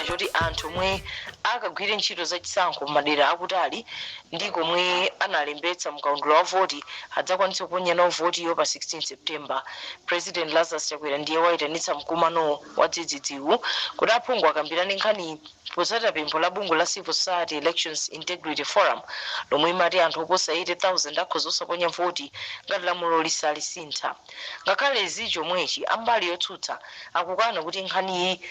choti anthu omwe akagwire ntchito za chisankho m'madera akutali ndi komwe analembetsa mkaundula wa voti adzakwanitse kuponya nawo votiyo pa 16 september president lazarus chakwera ndiye waitanitsa mkumano wadzidzidziwu kuti aphungu akambirane nkhaniyi Potsatira pempho la bungwe la Civil Society Elections Integrity Forum lomwe imati anthu oposa 80,000 akhoza osaponya voti ngati lamulo lisalisintha. Ngakhale zili chomwechi, a mbali yotsutsa akukana kuti nkhaniyi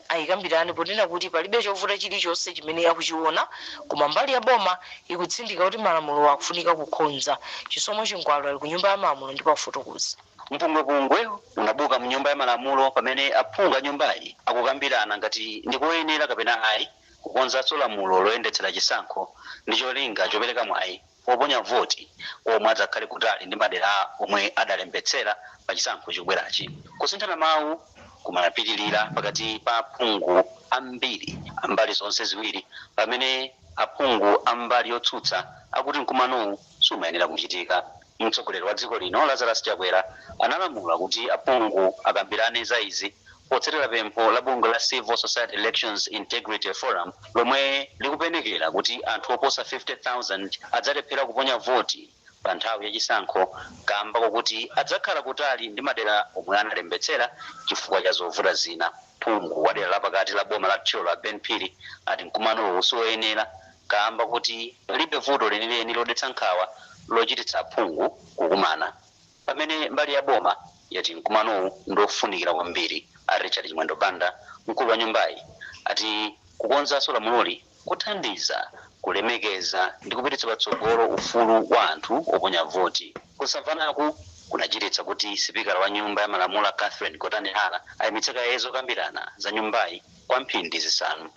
ayikambirane ponena kuti palibe chovuta chilichonse chimene akuchiona koma mbali ya boma ikutsindika kuti malamulo akufunika kukonza. Chisomo Chingwalu ali ku Nyumba ya Malamulo ndipo afotokoza. Mpungwepungwe unabuka mu nyumba ya malamulo pamene aphungu a nyumbayi akukambirana ngati ndi koyenera kapena ayi kukonzanso lamulo loyendetsera chisankho ndi cholinga chopereka mwayi woponya voti kwa omwe adzakhale kutali ndi madera omwe adalembetsera pa chisankho chikubwerachi. Kusinthana mawu kumapitilira pakati pa aphungu ambiri a mbali zonse ziwiri pamene aphungu a mbali yotsutsa akuti mkumanowu sumayenera kuchitika. Mtsogoleri wa dziko lino Lazarus Chakwera analamula kuti aphungu akambirane za izi potsatira pempho la bungwe la Civil Society Elections Integrity Forum lomwe likupenekera kuti anthu oposa 50,000 adzalephera kuponya voti pa nthawi ya chisankho kamba kwakuti adzakhala kutali ndi madera omwe analembetsera chifukwa cha zovuta zina. Phungu wa dera la pakati la boma la Thyolo a Ben Phiri ati mkumanowu siwoyenera kaamba kuti palibe vuto lenileni lodetsa nkhawa lochititsa aphungu kukumana, pamene mbali ya boma yati mkumanowu ndi ofunikira kwambiri. A Richard Chimwendo Banda, mkulu wa nyumbayi, ati kukonzanso lamuloli kuthandiza kulemekeza ndi kupititsa patsogolo ufulu wa anthu oponya voti. Kusamvanaku kunachititsa kuti sipikala wa nyumba ya malamulo Catherine Gotani Hara ayimitse kaye zokambirana za nyumbayi kwa mphindi zisanu.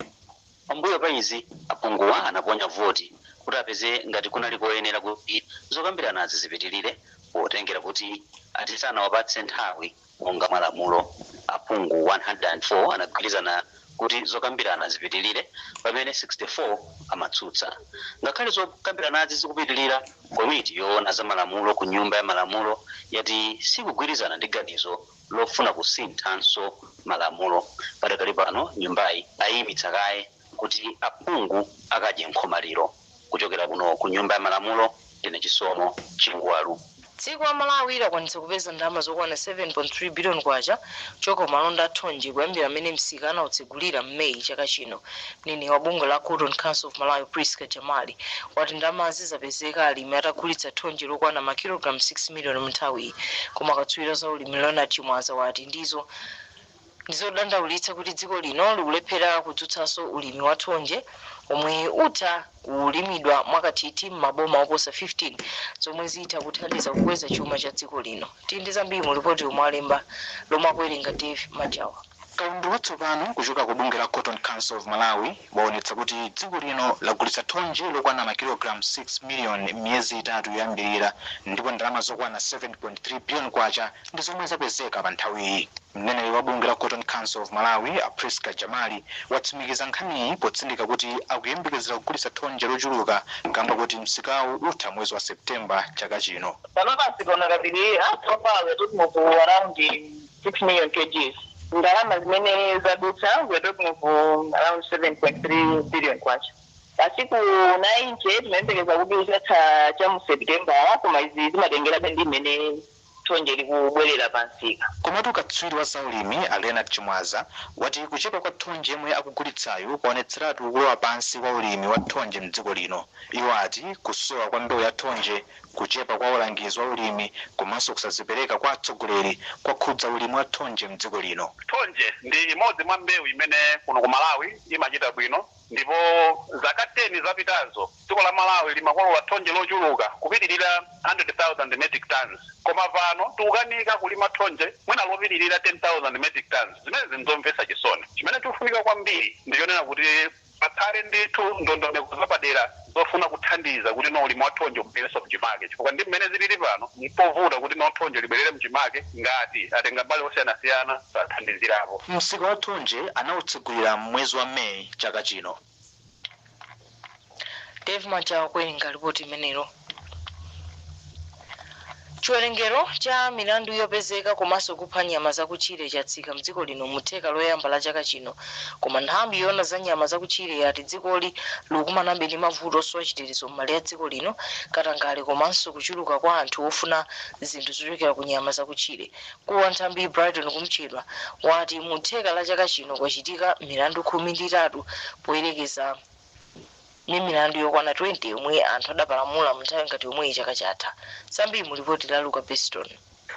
Pambuyo pa izi, aphunguwa anaponya voti kuti apeze ngati kunali koyenera kuti zokambiranazi zipitilire potengera kuti ati sanawapatse nthawi monga mwa malamulo. Aphungu 104 anagwirizana kuti zokambirana zipitilire pamene 64 amatsutsa. Ngakhale zokambiranazi zikupitilira, komiti yoona za malamulo ku Nyumba ya Malamulo yati sikugwirizana ndi ganizo. lofuna kusinthanso malamulo. Padakali pano nyumbayi ayiimitsa kaye kuti aphungu akadye nkhomaliro. Kuchokera kuno ku Nyumba ya Malamulo, ndine Chisomo Chingwalu. Dziko la Malawi lakwanitsa kupeza ndalama zokwana 7.3 biliyoni kwacha kuchoka ku malonda a thonje kuyambira m'mene msika anautsegulira m'May chaka chino. Mneneri wa bungwe la Cotton Council of Malawi Prisca Jamali wati ndalamazi zapezeka alimi atagulitsa thonje lokwana makilogalamu 6 miliyoni munthawiyi koma katswiri wa zaulimi Leonard Chimwaza wati ndizo ndizodandaulitsa kuti dziko lino likulephera kudzutsanso ulimi wa thonje omwe utha kulimidwa mwakathithi m'maboma oposa 15 zomwe zitha kuthandiza kukweza chuma cha dziko lino. Tili ndi zambiri mu lipoti ili lomwe alemba lomwe akuwerenga Dave Majawa. Kaundula watsopano kuchoka ku bungwe la Cotton Council of Malawi waonetsa kuti dziko lino lagulitsa thonje lokwana makilogalamu 6 miliyoni m'miyezi itatu yoyambirira ndipo ndalama zokwana K7.3 biliyoni ndi zomwe zapezeka pa nthawiyi. Mneneri wa bungwe la Cotton Council of Malawi, a Prisca Jamali, watsimikiza nkhaniyi potsindika kuti akuyembekezera kugulitsa thonje lochuluka kamba koti msikawu utha mwezi wa September chaka chino. Panopa sitiona katundu wina so far we are talking of. 6 million kgs ndalama zimene zadutsa we're talking of um, around 7.3 billion kwacha masiku 90 timayembekeza kuti utha cha mu september koma izi zimatengerabe ndi mmene thonje likubwerera pamsika komatu katswiri wa zaulimi a leonard chimwaza wati kuchepa kwa thonje yemwe akugulitsayu kwaonetseratu kulowa pansi kwa ulimi wa thonje mdziko lino iwo ati kusowa kwa mbewu ya thonje Kuchepa kwa ulangizi wa ulimi komanso kusadzipereka kwa atsogoleri kwakhudza ulimi wa thonje m'dziko lino. Thonje ndi imodzi mwa mbewu imene kuno ku Malawi imachita bwino ndipo zaka 10 zapitazo, dziko la Malawi limakolola thonje lochuluka kupitirira 100,000 metric tonnes koma pano tikukanika kulima thonje mwina lopitirira 10,000 metric tonnes. Zimenezi n'zomvetsa chisoni. Chimene chikufunika kwambiri ndi chonena kuti. Pakhale ndithu ndondomeko zapadera zofuna kuthandiza kutino ulimi wa thonje ubwererenso mchimake chifukwa ndi mmene zilili pano mpovuta kutino thonje libwerere mchimake ngati atengambali osiyanasiyana sathandizirapo. Msika wa thonje anautsegulira m'mwezi wa May chaka chino. Dave Majawa kuwerenga lipoti limenelo. Chiwerengero cha milandu yopezeka komanso kupha nyama zakutchire chatsika mdziko lino mu theka loyamba la chaka chino, koma nthambi yoona za nyama zakutchire yati dzikoli likukumanabe ndi mavuto osowa chitetezo m'malire a dziko lino, katangale komanso kuchuluka kwa anthu ofuna zinthu zochokera ku nyama zakutchire. Mkulu wa nthambiyi Brighton Kumchedwa wati mu theka la chaka chino kwachitika milandu khumi ndi itatu poyerekeza. Ni milandu yokwana 20 yomwe anthu adapalamula mu nthawi ngati yomweyi chaka chatha. Zambiri mu lipoti la Luka Beston.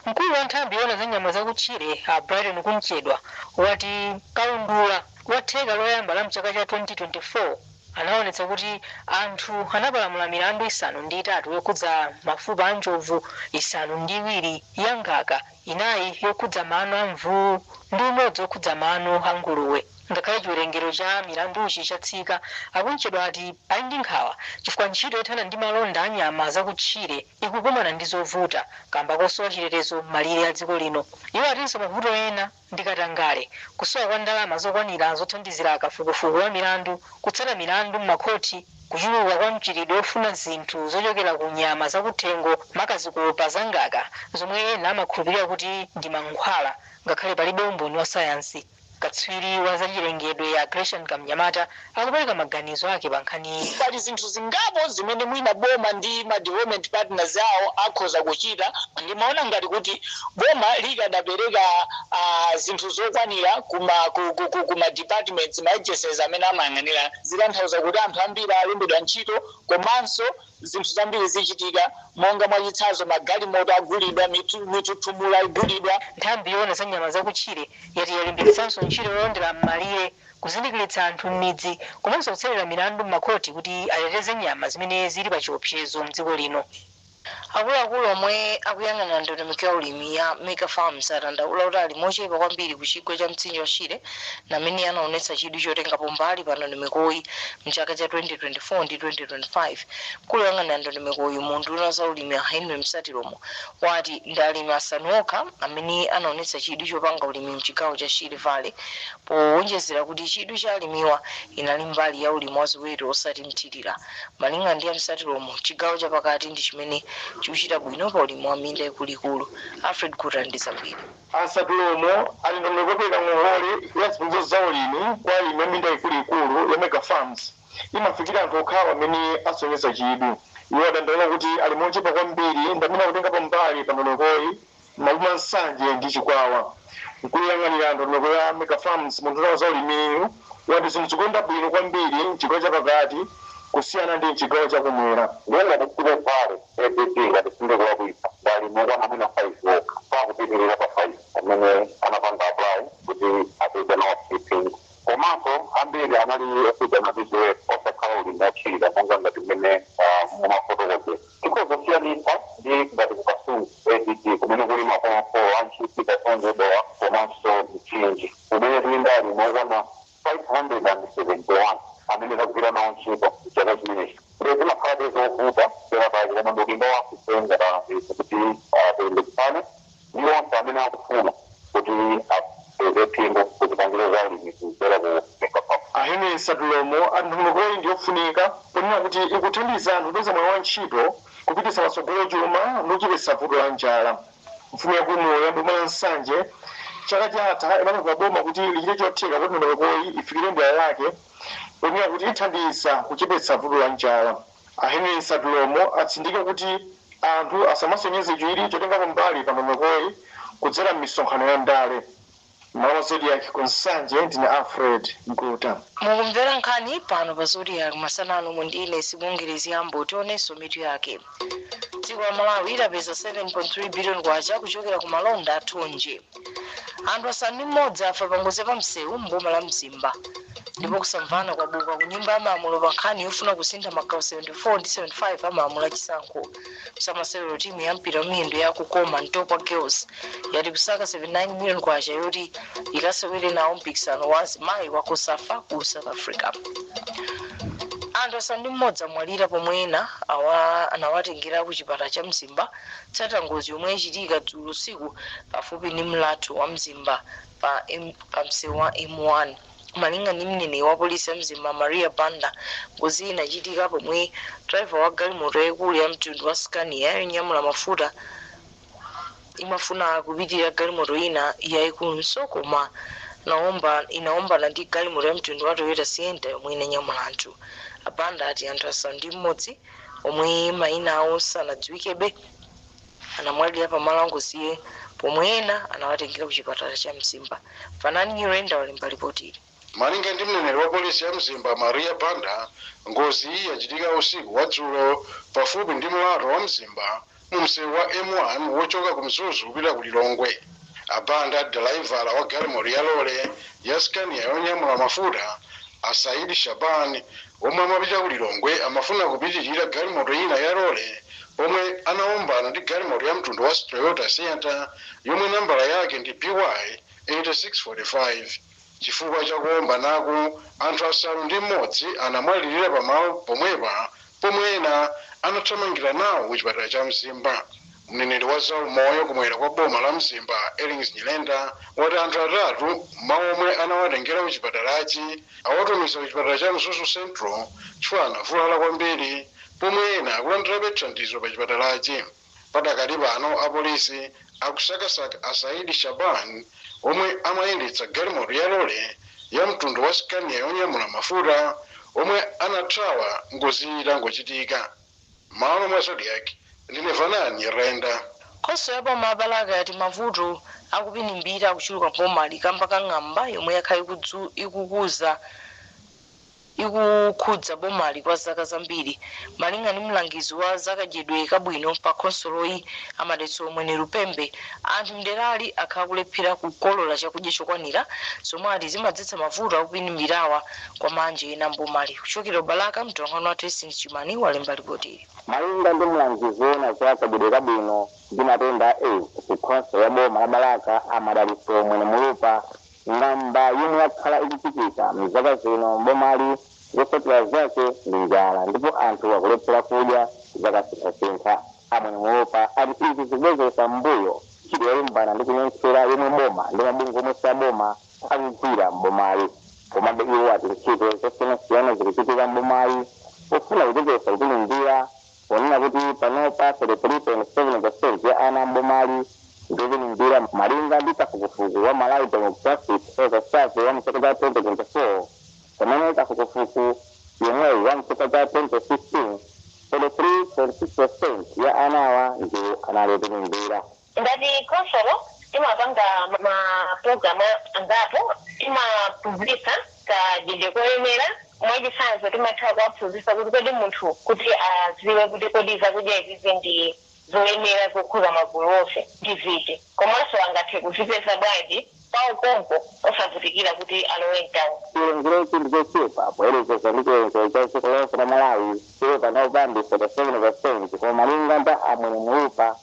Mkulu wa nthambi yoona za nyama za kutchire a Brighton Kumchedwa wati kaundula wa theka loyamba la mchaka cha 2024 anaonetsa kuti anthu anapalamula milandu isanu ndi itatu yokhudza mafupa a njovu, isanu ndi iwiri ya ngaka, inayi yokhudza mano a mvuu ndi umodzi okhudza mano a nguluwe. Ngakhale chiwerengero cha milanduchi chatsika, a Kunchedwa ati ali ndi nkhawa chifukwa ntchito yothana ndi malonda a nyama za kutchire ikukumana ndi zovuta kamba kosowa chitetezo m'malire a dziko lino. Iwo atinso mavuto ena ndi katangale, kusowa kwa ndalama zokwanira zothandizira kafukufuku wa milandu, kutsata milandu m'makhothi, kuchuluka kwa mchitidwe ofuna zinthu zochokera ku nyama za kuthengo maka zikopa za ngaka zomwe ena amakhulupirira kuti ndi mankhwala ngakhale palibe umboni wa sayansi. Katswiri wa zachilengedwe a Gresham Kamnyamata akupereka maganizo ake pa nkhaniyi. Pali zinthu zingapo zimene mwina boma ndi ma development partners awo akhoza kuchita. Ndimaona ngati kuti boma likadapereka zinthu zokwanira ku ma departments, ma agencies amene amayang'anira. Zikutanthauza kuti anthu ambiri alembedwa ntchito komanso zinthu zambiri zichitika, monga mwachitsanzo magalimoto agulidwa, mithuthuthu, mula igulidwa. Nthambi yoona za nyama zakutchire yati yalimbikitsanso ntchito yolondera m'malire, kuzindikiritsa anthu m'midzi komanso kutsekulira milandu m'makhoti kuti ateteze nyama zimene zili pachiopsezo m'dziko lino. Akuluakulu omwe akuyang'anira ndondomeko ya ulimi ya Mega Farms adandaula kuti alimi ochepa kwambiri ku chigwa cha mtsinje wa Shire Ndi amene anaonetsa chidwi chotengapo mbali pa ndondomekoyi mchaka cha 2024 ndi 2025. Mkulu oyang'anira ndondomekoyi mu unduna wa zaulimi a Henry Msatilomo wati ndi alimi asanu okha amene anaonetsa chidwi chopanga ulimi mchigawo cha Shire Valley powonjezera kuti chidwi cha alimiwa inali mbali ya ulimi wa ziweto osati mthirira. Malingana ndi a Msatilomo, chigawo cha pakati ndi chimene chikuchita bwino pa ulimi wa minda ikuluikulu. Alfred Guta ali ndi zambiri. A Msatilomo ati ndondomeko yopereka ngongole ya zipangizo za ulimi kwa alimi a minda ikuluikulu ya Mega Farms imafikira anthu okhawo amene asonyeza chidwi. Iwo adandaula kuti alimi ochepa kwambiri ndi amene akutengapo mbali pa ndondomekoyi m'maboma a Nsanje ndi Chikwawa. Mkulu woyang'anira ndondomeko ya Mega Farms mu unduna wa za ulimiyu, Wati zinthu zikuyenda bwino kwambiri m'chigawo cha pakati kusiyana ndi m'chigawo cha ku mwera. Ndiye ngati ku Shire Valley ADD, ngati sindikulakwitsa ndi alimi okwana mwina 5 okha osapitirira pa 5 amene anapanga apply kuti apeze nawo stipend. Komanso ambiri anali okhudzana ndi ziweto osakhala ulimi othirira monga ngati m'mene mumafotokozera. Tikhoza kusiyanitsa ndi ngati ku Kasungu ADD, kumene kuli maboma a Ntchisi, Kasungu, Dowa komanso Mchinji. Kumene kuli alimi okwana 571 amene tagwira nawo ntchito m'chaka chimenechi, ndiye zimakhalabe zovuta penapake, koma ndiudindo wathu ife ngati alangizi kuti tilimbikitsane ndi onse amene akufuna kuti apeze phindu ku zipangizo za ulimi kudzera ku Mega Farms. A Henry Msatilomo ati ndondomekoyi ndi yofunika ponena kuti ikuthandiza anthu kupeza mwayi wa ntchito, kupititsa patsogolo chuma ndi kuchepetsa vuto la njala. Mfumu yaikuluyo ya boma la Nsanje chaka chatha inapempha boma kuti lichite chotheka kuti ndondomekoyi ifikire dera lake ponena kuti ithandiza kuchepetsa vuto la njala. A Henry Msatilomo atsindika kuti anthu asamasonyeze chidwi chotengapo mbali pa ndondomekoyi kudzera m'misonkhano ya ndale. Mmalo mwa Zodiak ku Nsanje ndine Alfred Guta. Mukumvera nkhani pano pa Zodiak masana ano ndi ine Sibongile Zgambo tionenso mitu yake. Dziko la Malawi lapeza 7.3 billion kwacha kuchokera ku malonda a thonje. Anthu asanu ndi mmodzi afa pa ngozi ya pamsewu m'boma la Mzimba. Ndipo kusamvana kwabuka ku nyumba ya malamulo pa nkhani yofuna kusintha magawo 74 ndi 75 a malamulo a chisankho. m'masewero timu ya mpira wamiyendo ya kukoma ntopwa girls yati ikusaka 79 million kwacha yoti ikasewere nawo mpikisano wa azimayi wa cosafa ku south africa anthu asanu ndi mmodzi amwalira pomwe ena anawatengera ku chipatala cha mzimba potsatira ngozi yomwe yachitika dzulo usiku pafupi ndi mlatho wa mzimba pa msewu wa m1 Malinga ndi mneneri wa polisi ya Mzimba, Maria Banda, ngoziyi inachitika pomwe driver wa galimoto yaikulu ya mtundu wa Scania yonyamula mafuta imafuna kupitirira galimoto ina yaikulunso koma inaombana ndi galimoto ya mtundu wa Toyota Sienta yomwe inanyamula anthu. A Banda ati anthu asanu ndi mmodzi omwe mayina awo sanadziwikebe anamwalira pa malo angoziyi pomwe ena anawatengera ku chipatala cha Mzimba. Fanani Nyirenda wali ndi lipotili. Malinga ndi mneneri wa polisi ya Mzimba Maria Banda, ngoziyi yachitika usiku wa dzulo pafupi ndi mlato wa Mzimba mu msewu wa M1 wochoka ku Mzuzu kupita ku Lilongwe. A Banda ati dalaivala wa galimoto ya lole ya Scania yonyamula mafuta, a Saidi Shaban omwe amapita ku Lilongwe amafuna kupitilira galimoto ina ya lole pomwe anawombana ndi galimoto ya mtundu wa Toyota Sienta yomwe nambala yake ndi BY 8645. Chifukwa cha kuombanaku, anthu asanu ndi m'modzi anamwalilira pa malo pomwepa pomwe ena anathamangira nawo ku chipatala cha Mzimba. Mneneri wa za umoyo ku mwera kwa boma la Mzimba, Ellings Nyirenda, wati anthu atatu mwa omwe anawatengera ku chipatalachi awatumiza ku chipatala cha Mzuzu Central chifukwa anavulala kwambiri pomwe ena akulandirabe thandizo pa chipatalachi. Padakali pano apolisi akusakasaka a Saidi Shaban omwe amayendetsa galimoto ya lole ya mtundu wa Scania yonyamula mafuta omwe anathawa ngoziyi itangochitika. Mmalo mwa Zodiak, ndine Fanani Nyirenda. Khonsolo ya boma la Balaka yati mavuto akupinimbira akuchuluka m'bomali kamba ka ng'amba yomwe yakhala ikukuza. ikukhudza bomali kwa zaka zambiri. Malinga ndi mlangizi wa za kadyedwe kabwino pa khonsoloyi, a Madalitso Mwenelupembe, anthu m'derali akhala akulephera kukolola chakudya chokwanira, zomwe ati zimadzetsa mavuto akupinimbira kwa ana ena m'bomali. Kuchokera ku Balaka, mtolankhani wathu Hastings Chimani walemba lipoti ili. Malinga ndi mlangizi woona za kadyedwe kabwino ndi matenda a aids ku khonsolo ya boma la Balaka a Madalitso Mwenemulupa, Ng'amba yomwe yakhala ikuchitika mzaka zino m'bomali zotsatira zake ndi njala ndipo anthu akulephera kudya zakasinthasintha. A Mwenemulopa ati izi zikubwezeretsa m'mbuyo ntchito yolimbana ndi kunyentchera yomwe boma ndi mabungwe omwe siaboma akugwira m'bomali. Komabe iwo ati ntchito zosiyanasiyana zikuchitika m'bomali pofuna kuchepetsa kupinimbira ponena kuti panopa 33.7 peresenti ya ana a m'bomali ndi opinimbira. Malinga ndi kafukufuku wa Malawi Demographic Health Survey wa m'chaka cha 2024, pamene kafukufuku yemweyu wa m'chaka cha 2015, 43.6 peresenti ya anawa ndiwo anali opinimbira. Ngati khonsolo, timapanga mapulogalamu angapo. Timaphunzitsa kadyedwe koyenera. Mwachitsanzo, timatha kuwaphunzitsa kuti kodi munthu kuti adziwe kuti kodi zakudya izizi ndi zoyenera zokhuza magulu onse ndi ziti komanso angathe kuzipeza bwanji pawo konko osavutikira kuti alowe m'tauni. Chiwerengerochi ndi chochepa poyerekeza ndi chiwerengero cha dziko lonse la Malawi chomwe panopa ndi 37 peresenti koma malinga ndi a Mwenemulupa,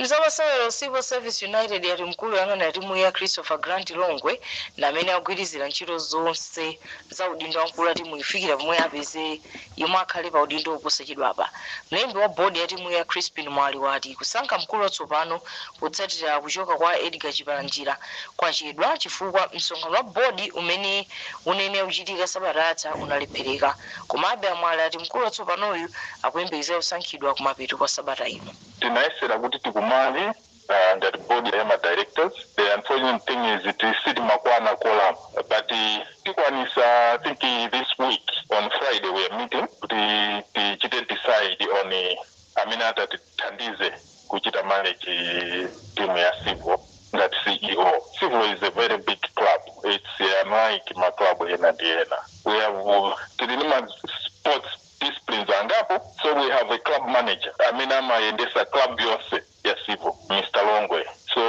Mzamasewero, Civil Service United yati mkulu oyang'anira timuyi a Christopher Grant Longwe ndi amene akugwirizira ntchito zonse za udindo wa mkulu wa timuyi kufikira pomwe apeze yemwe akhale pa udindowu posachedwapa. Mlembi wa board ya timuyi a Chrispin Mwale ati kusankha mkulu watsopano potsatira kuchoka kwa Edgar Chipalanjira kwachedwa chifukwa msonkhano wa board umene unayenera kuchitika sabata yatha unalephereka. Komabe a Mwale ati mkulu watsopanoyu akuyembekezeka kusankhidwa kumapeto kwa sabata ino. Tinayesera kuti tikumane ngati board ya ma directors the unfortunate thing is sitinakwane quorum but tikwanisa I think this week on Friday we are meeting kuti tichite decide on amene atatithandize kuchita manage team ya Civil ngati CEO. Civil is a very big club, its unlike ma club ena ndi ena. We have tili ndi ma sports disciplines angapo so we have a club manager amene amayendesa club yonse ya civil Mr Longwe so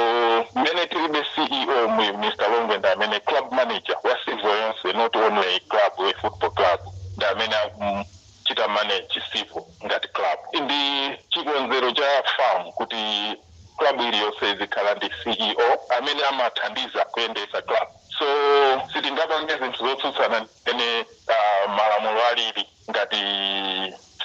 mmene tilibe CEO mu Mr Longwe ndi amene club manager wa civil yonse not only a club a football club ndi amene akuchita manage civil ngati club ndi chikonzero cha fam kuti club iliyonse izikhala ndi CEO amene amathandiza kuyendesa club so sitingapange zinthu zotsutsana mmene malamulo alili ngati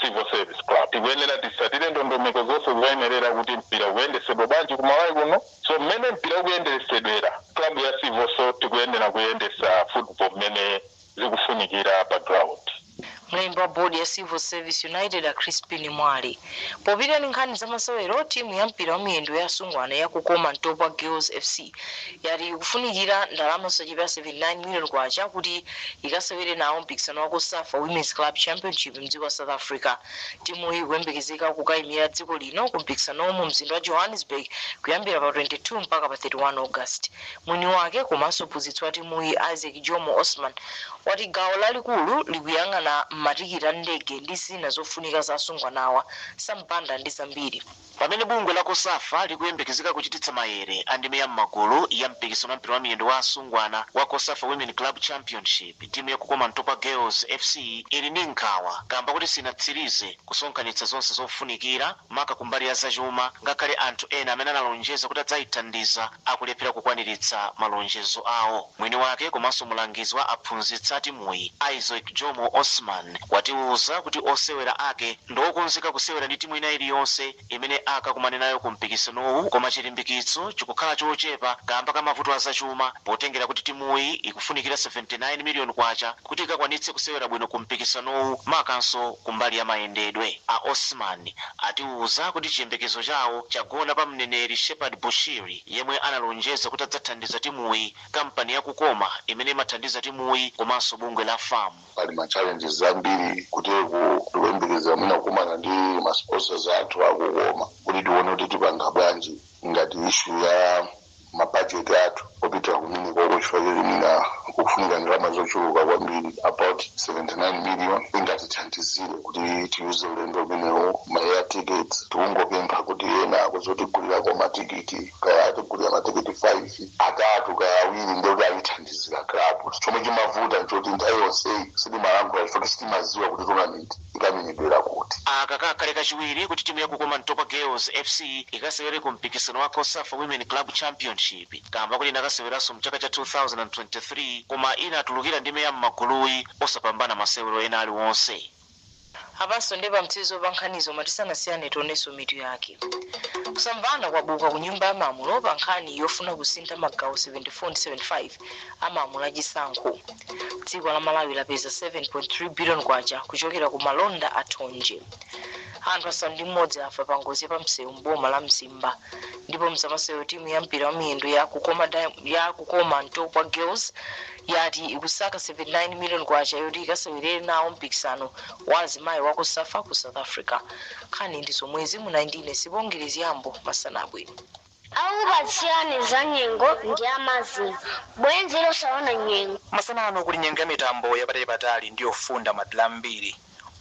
civil service club tikuyenera titsatire ndondomeko zonse zoyenerera kuti mpira uyendesedwe bwanji ku malawi kuno so mmene mpira ukuyendesedwera club ya civil so tikuyenera kuyendesa football mmene zikufunikira pa ground Mlembi wa bodi ya Civil Service United a Crispin Mwale popita ndi nkhani za masewero timu ya mpira wa miyendo ya asungwana ya Kukoma Ntopwa Girls FC yati ikufunikira ndalama zosachepera 79 million kwacha kuti ikasewere nawo mpikisano wa cosafa womens club championship mdziko la south africa timuyi ikuyembekezeka kukayimira dziko lino ku mpikisanowo mu mzinda wa johannesburg kuyambira pa 22 mpaka pa 31 august mwini wake komanso mphunzitsi wa timuyi isaac jomo osman wati gawo lalikulu likuyang'ana matikiti a ndege ndi zina zofunika za asungwanawa sampanda ndi zambiri Pamene bungwe la Cosafa likuyembekezeka kuchititsa mayere a ndime ya m'magulu ya mpikisano wa mpira wa miyendo wa asungwana wa Cosafa Women Club Championship, timu ya Kukoma Ntopwa Girls FC ili ndi nkhawa kamba koti sinatsirize kusonkhanitsa zonse zofunikira maka kumbali ya zachuma ngakhale anthu ena amene analonjeza kuti adzaithandiza akulephera kukwaniritsa malonjezo awo. Mwini wake komanso mulangizi wa aphunzitsi a timuyi, Isaac Jomo Osman, watiuza kuti osewera ake. Ndi okonzeka kusewera ndi timu ina iliyonse imene akakumane nayo ku mpikisanowu koma chilimbikitso chikukhala chochepa kaamba ka mavuto a zachuma potengera kuti timuyi ikufunikira K79 million kuti ikakwanitse kusewera bwino ku mpikisanowu makanso kumbali ya mayendedwe. A Osman atiuza kuti chiyembekezo chawo chagona pa mneneri Shepherd Bushiri yemwe analonjeza kuti adzathandiza timuyi, kampani ya Kukoma imene imathandiza timuyi komanso bungwe la fam. Pali ma challenges ambiri kuti tikuyembekezera mwina kukumana ndi ma sponsors athu akukoma kuti tione kuti tipanga bwanji ngati issue ya ma budget athu opitira kumenekoko chifukwa choti mwina kukufunika ndalama zochuluka kwambiri about 79 million ingatithandizire kuti tiuze ulendo umenewo ma air tickets tikungopempha kuti ena akhoza kutigulirako matikiti kaya atigulira matikiti 5 atatu kaya awiri ndiye kuti ayithandizira club chomwe chimavuta nchoti nthawi yonseyi sitimalankhula chifukwa sitimaziwa kuti tournament ikamenyedwera kuti. Aka kakhale kachiwiri kuti timu ya Kukoma Ntopwa Girls FC ikasewere ku mpikisano wa cosafa Women Club Championship kamba koti inakaseweranso mchaka cha 2023 koma inatulukira mndime ya mmaguluyi osapambana masewero ena aliwonse. Apanso ndi pamtsirizo pa nkhanizo ma tisanasiyane tionenso mitu yake. Kusamvana kwabuka ku nyumba ya malamulo pa nkhani yofuna kusintha magawo 74 ndi 75 a malamulo a chisankho. Dziko la Malawi lapeza K7.3 billion kuchokera ku malonda a thonje. Anthu asanu ndi m'modzi afa pa ngozi ya pa msewu m'boma la Mzimba. Ndipo mzamasewero timu ya mpira wa miyendo ya Kukoma Ntopwa Girls yati ikusaka K79 million yoti ikasewerere nawo mpikisano wa azimayi wa Cosafa ku South Africa. Nkhani ndi zomwezi munali ndi ine Sibongile Zgambo. Masana abwino. Okupatsirani za nyengo ndi a Mazin, bwenzi losaona nyengo. Masana ano kuli nyengo ya mitambo yapatalipatali ndi yofunda, madera ambiri.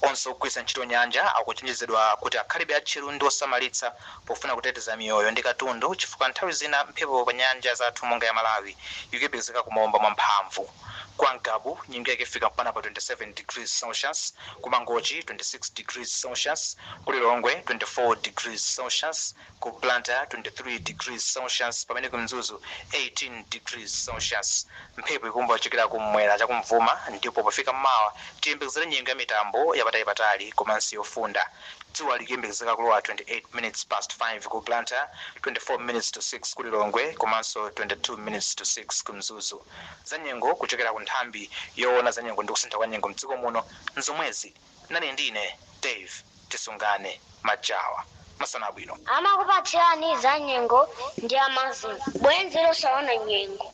Onse ogwiritsa ntchito nyanja akuchenjezedwa kuti akhalebe atcheru ndi osamalitsa pofuna kuteteza miyoyo ndi katundu chifukwa nthawi zina mphepo pa nyanja zathu monga ya Malawi ikuyembekezeka kumaomba mwa mphamvu. Kwa Ngabu, nyengo yake ifika mpaka pa 27 degrees Celsius, ku Mangochi 26 degrees Celsius, ku Lilongwe 24 degrees Celsius, ku Blantyre 23 degrees Celsius pamene ku Mzuzu 18 degrees Celsius. Mphepo ikuomba kuchokera kummwera chakumvuma ndipo pofika m'mawa tiyembekezere nyengo ya mitambo ya patalipatali komanso yofunda. Dzuwa likuyembekezeka kulowa 28 minutes past 5 ku Blantyre, 24 minutes to 6 ku Lilongwe komanso 22 minutes to 6 ku Mzuzu. Zanyengo kuchokera ku nthambi yowona zanyengo ndi kusintha kwa nyengo mdziko muno nzomwezi. Nane ndine Dave Tisungane Majawa masana abwino. Amakupatsirani za nyengo ndi a Mazin, bwenzi losaona nyengo.